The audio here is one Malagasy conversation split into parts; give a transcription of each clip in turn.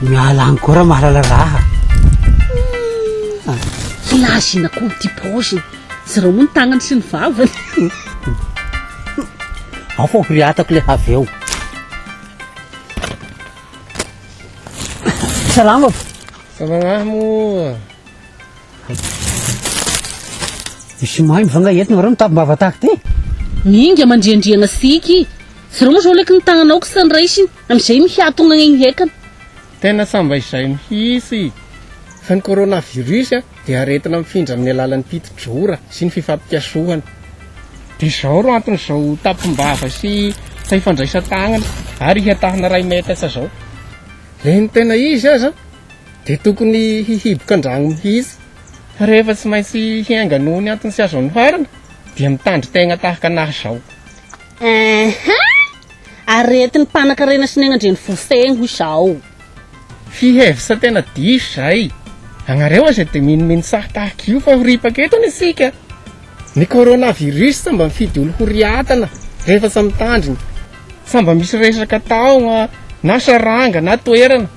Miala any koa raha mahalala raha. Filazina koa ity paoziny. Zarao moa ny tagnany sy ny vavany. Ao fa horiatako le avy eo. Salama. Salama mo. Misy maimbo va nga eto nareo mitapim-bava tahaka ty? Mihinga mandriandriagna siky. Zareo moa zao leky ny tagnanao kisa ny raisiny, amizay mihatogna egny hekany. Tena samba izay mihitsy fa ny coronavirus dia aretina mifindra amin'ny alalan'ny piti-drora sy ny fifampikasohana. Dia izao ro anton'izao tapim-bava sy faifandraisan-tagnana ary ihatahana iray metatra izao. Ilay ny tena izy aza, dia tokony hihiboka an-drano mihitsy fa rehefa tsy maintsy hiainga noho ny antony tsy azo anoharana dia mitandry tegna tahaka anahy izao. Ehe! Aretin'ny mpanakarena sy ny any an-drenifofegny izao. Fihevitra tena diso izay. Agnareo aza dia minomino sahy tahaka io fa ho ripaka eto anie isika. Ny coronavirus sambà mifidy olo ho riatana rehefa tsy mitandrina. Sambà misy resaka taogna na saranga na toerana.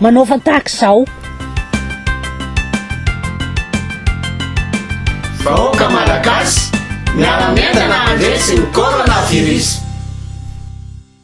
manaova tahaka izao. Vahoaka Malagasy, miara-mientana handresy ny Coronavirus.